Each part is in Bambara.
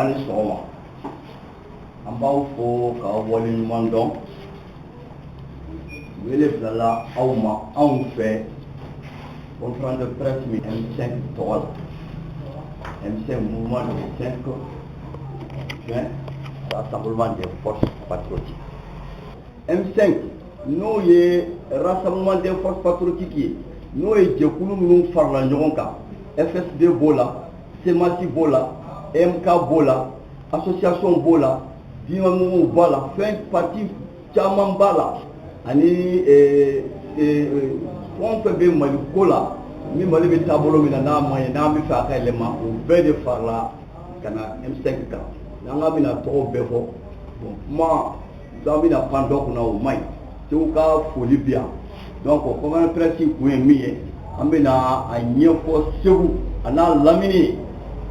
aw ni sɔgɔma an b'aw fo k'aw waleɲuman dɔn wele bilala aw ma anw fɛ conférence de presse min M5 tɔgɔ la M5 mouvement du 5 juin rassemblement des forces patriotiques M5 n'o ye rassemblement des forces patriotiques ye n'o ye jɛkulu minnu farala ɲɔgɔn kan FSD b'o la CMAS b'o la EMK b'o la association b'o la dimamuguw b'a la fɛn parti caman b'a la ani eh, eh, fɛn o fɛn bɛ mali ko la min mali bɛ taabolo min na n'a man ɲi n'an b'a fɛ a ka yɛlɛma o bɛɛ de farala ka na M5 kan n'an k'an bɛna tɔgɔw bɛɛ fɔ bon kuma an bɛna pan dɔ kunna o man ɲi segu ka foli bi yan donc conférence de presse kun ye min ye an bɛna a ɲɛfɔ segu an'a lamini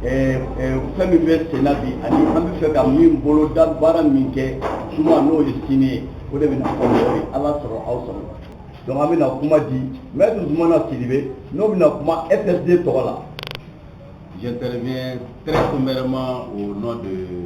fɛn min bɛ senna bi ani an b'a fɛ ka min boloda baara min kɛ juma n'o ye sini ye o de bɛna fɔ mɔgɔw ye ala sago aw sago donc an bɛna kuma di maître Zumana Sidibe n'o bɛna kuma FSD tɔgɔ la j'interviens très sommairement au nom de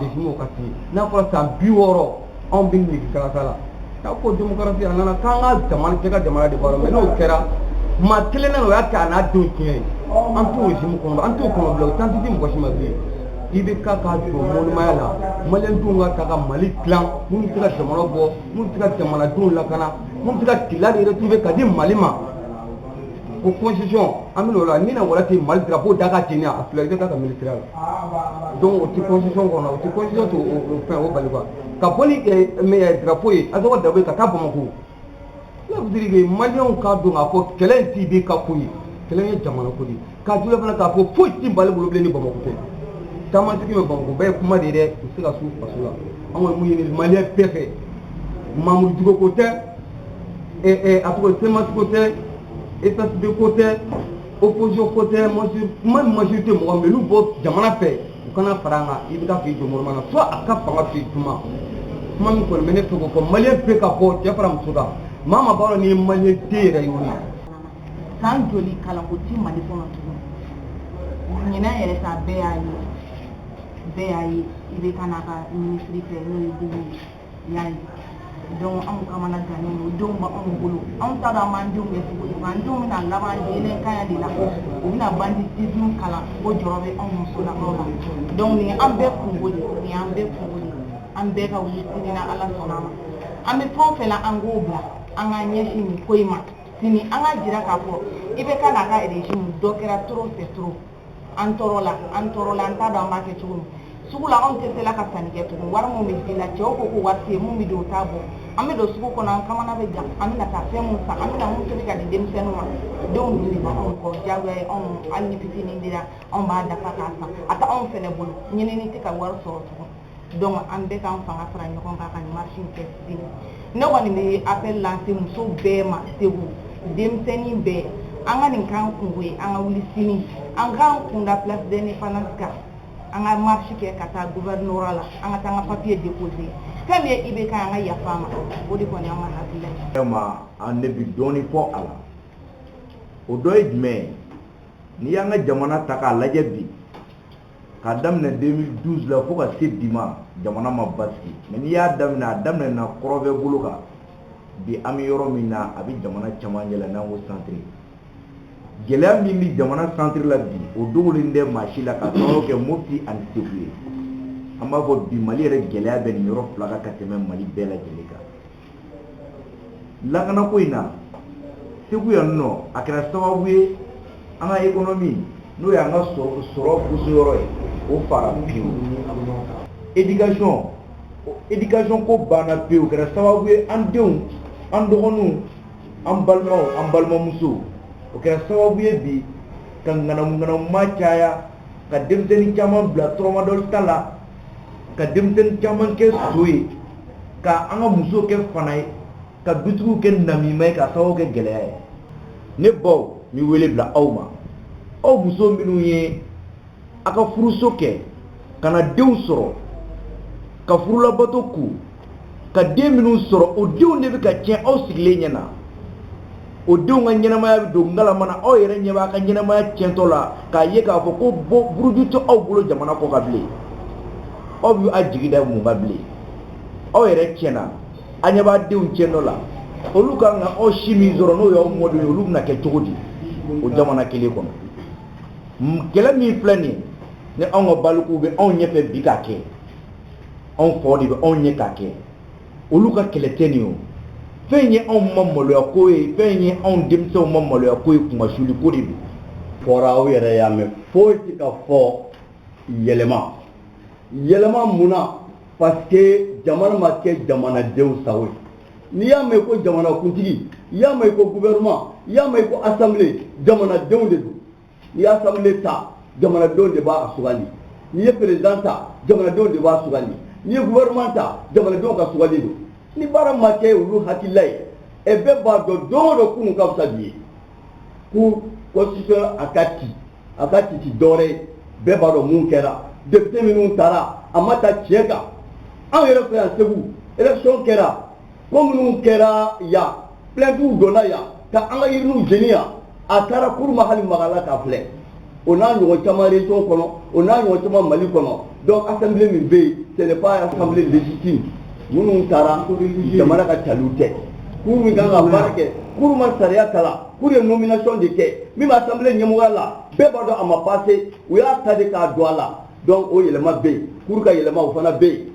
Dec ka n'a fɔra san bi wɔɔrɔ anw bɛ nin kalansa la n'a ko démocratie a nana k'an ka jamana cɛ ka jamana de bɔ mais n'o kɛra maa kelen o y'a kɛ n'a don tiɲɛ ye an t'o kɔnɔ an t'o kɔnɔ bilen temps tɛ di mɔgɔ si ma bilen IBK ka jɔ mɔnmaya la malidenw ka taa ka mali dila minnu bɛ se ka jamana bɔ minnu bɛ se ka jamanadenw lakana minnu bɛ se ka Kidal retrouver ka di mali ma ko constitution an bɛna o la ni na wala ten mali drapeau da ka jeni a fila IBK ka ministère la donc o tɛ constitution kɔnɔ o tɛ constitution to o fɛn o bali quoi ka bɔ ni mais drapeau ye azoka drapeau ka taa bamako pour vous dire que maliyɛnw k'a dɔn k'a fɔ kɛlɛ in tɛ IBK ko ye kɛlɛ ye jamana ko de ye k'a juguya fana k'a fɔ foyi tɛ mali bolo bilen ni bamako tɛ taamasigi bɛ bamako bɛɛ ye kuma de ye dɛ u bɛ se ka s'u faso la an kɔni bɛ min ɲini maliyɛn bɛɛ fɛ mamudu Diko ko tɛ a ko CMAS ko tɛ FSD ko tɛ opposition ko tɛ majorité mɔgɔ minnu b'u jamana fɛ u ka na fara an kan IBK fɔ i jɔ mɔgɔ na fo a ka fanga fɛ kuma kuma min kɔni bɛ ne fɛ k'o fɔ maliyɛn bɛɛ ka bɔ cɛ fara muso kan maa min b'a dɔn i ye mali den yɛrɛwolo ye san joli kalanko tɛ mali kɔnɔ tugun ɲinan yɛrɛ ta bɛɛ y'a ye bɛɛ y'a ye IBK ka minisiri fɛ n'o ye Bubu ye y'a ye donc anw kamana gannen don denw bɛ anw bolo anw t'a dɔn an b'an denw kɛ cogo di an denw bɛna laban délinquanya de la u bɛna banditisme kalan o jɔrɔ bɛ anw musolakaw la donc nin ye an bɛɛ kunko de nin y'an bɛɛ kunko de an bɛɛ ka wuli sini ni ala sɔnna a ma an bɛ fɛn o fɛn la an k'o bila an ka ɲɛsin nin ko in ma sini an ka jira k'a fɔ IBK n'a ka régime dɔ kɛra trop c'est trop an tɔɔrɔla an tɔɔrɔla an t'a dɔn an b'a kɛ cogo min sugu la anw tɛ se la ka sanni kɛ tugun wari min bɛ di la cɛw ko ko wari tɛ yen min bɛ don o t'a bɔ an bɛ don sugu kɔnɔ an kamana bɛ gan an bɛna taa fɛn mun san an bɛna mun tobi ka di denmisɛnninw ma denw dun de bɛ anw kɔ diyagoya ye anw hali ni fitinin dira anw b'a dafa k'a san a tɛ anw fana bolo ɲinini tɛ ka wari sɔrɔ tugun donc an bɛɛ k'an fanga fara ɲɔgɔn kan ka marche kɛ sini ne kɔni bɛ appel lancer muso bɛɛ ma Segu denmisɛnnin bɛɛ an ka nin k'an kunko ye an ka wuli sini an k'an kun da place d'indépendance kan an ka marche kɛ ka taa gouvernorat la an ka taa an ka papier déposer fɛn min ye IBK an ka yafa a ma o de kɔni an ka hakilila ye. Vraiment an ne bɛ dɔɔni fɔ a la o dɔ ye jumɛn ye n'i y'an ka jamana ta k'a lajɛ bi k'a daminɛ 2012 la fo ka se bi ma jamana ma basigi mais n'i y'a daminɛ a daminɛna kɔrɔnfɛ bolo kan bi an bɛ yɔrɔ min na a bɛ jamana cɛmancɛ la n'an ko centre gɛlɛya min bɛ jamana centre la bi o dogolen tɛ maa si la ka sababu kɛ mopti ani segu ye an b'a fɔ bi mali yɛrɛ gɛlɛya bɛ nin yɔrɔ fila kan ka tɛmɛ mali bɛɛ lajɛlen kan lakanako in na segu yan nɔ a kɛra sababu ye an ka économie n'o y'an ka sɔrɔ boso yɔrɔ ye o fara pewu éducation éducation ko banna pewu kɛra sababu ye an denw an dɔgɔninw an balimaw an balimamusow o kɛra sababu ye bi ka ŋanamuŋanamu maa caya ka denmisɛnnin caman bila tramadol ta la ka denmisɛnnin caman kɛ son ye ka an ka musow kɛ fana ye ka dutigiw kɛ namima ye ka sababu kɛ gɛlɛya ye ne baw n bɛ wele bila aw ma aw muso minnu ye a ka furuso kɛ ka na denw sɔrɔ ka furu labato ku ka den minnu sɔrɔ o denw de bɛ ka tiɲɛ aw sigilen ɲɛ na o denw ka ɲɛnamaya bɛ don ngalama na aw yɛrɛ ɲɛ b'a ka ɲɛnamaya tiɲɛtɔ la k'a ye k'a fɔ ko bɔ buruju tɛ aw bolo jamana kɔkan bilen aw bɛ a jigi da mun kan bilen aw yɛrɛ tiɲɛna a ɲɛ b'a denw tiɲɛtɔ la olu ka kan ka aw si min sɔrɔ n'o y'aw mɔdenw ye olu bɛna kɛ cogo di o jamana kelen kɔnɔ kɛlɛ min filɛ nin ye ni anw ka balikuw bɛ anw ɲɛfɛ bi k'a kɛ anw faw de bɛ anw ɲɛ k'a kɛ olu ka kɛlɛ tɛ nin ye o fɛn ye anw ma maloya ko ye fɛn ye anw denmisɛnw ma maloya ko ye kunmasuli ko de don fɔra aw yɛrɛ y'a mɛn foyi tɛ ka fɔ yɛlɛma yɛlɛma mun na parce que jamana ma kɛ jamanadenw sago ye n'i y'a mɛn ko jamanakuntigi i y'a mɛn ko gouvernement i y'a mɛn ko assemblée jamanadenw de don n'i y'a assemblée ta jamanadenw de b'a sugandi n'i ye président ta jamanadenw de b'a sugandi n'i ye gouvernement ta jamanadenw ka sugandi don ni baara ma kɛ olu hakilila ye ɛ bɛɛ b'a dɔn don o don kunun ka fisa bi ye ko constitution a ka ci a ka ci ci dɔwɛrɛ ye bɛɛ b'a dɔn mun kɛra député minnu tara a ma ta tiɲɛ kan anw yɛrɛ fɛ yan segu élection kɛra ko minnu kɛra yan plaintiw donna yan ka an ka urniw jeni yan a taara cour ma hali Markala ta filɛ o n'a ɲɔgɔn caman région kɔnɔ o n'a ɲɔgɔn caman mali kɔnɔ donc assemblée min bɛ yen ce n'est pas assemblée légitime minnu tara jamana ka taliw tɛ cour min kan ka baara kɛ cour ma sariya kalan cour ye nomination de kɛ min bɛ assemblée ɲɛmɔgɔya la bɛɛ b'a dɔn a ma passé u y'a ta de k'a don a la donc o yɛlɛma bɛ yen cour ka yɛlɛma o fana bɛ yen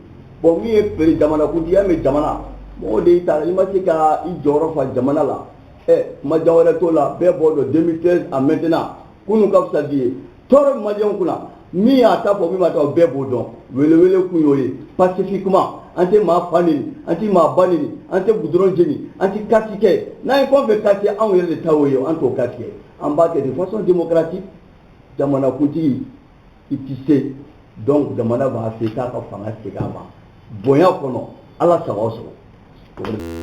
Bon min ye p jamanakuntigiya bɛ jamana mɔgɔ de y'i ta i ma se ka i jɔyɔrɔ fa jamana la kuma jan wɛrɛ t'o la bɛɛ b'o dɔn 2013 à maintenant kunun ka fisa bi ye tɔɔrɔ bɛ maliyɛnw kunna min y'a ta fɔ min ma ta bɛɛ b'o dɔn welewele kun y'o ye pacifiquement an tɛ maa fa neni an tɛ maa ba neni an tɛ goudron jeni an tɛ kati kɛ n'an ye fɛn o fɛn kati anw yɛrɛ de ta y'o ye an t'o kati kɛ an b'a kɛ de façon démocratique jamanakuntigi i tɛ se donc jamana b'a se k'a ka fanga segin a ma bonya kɔnɔ Ala sago aw sago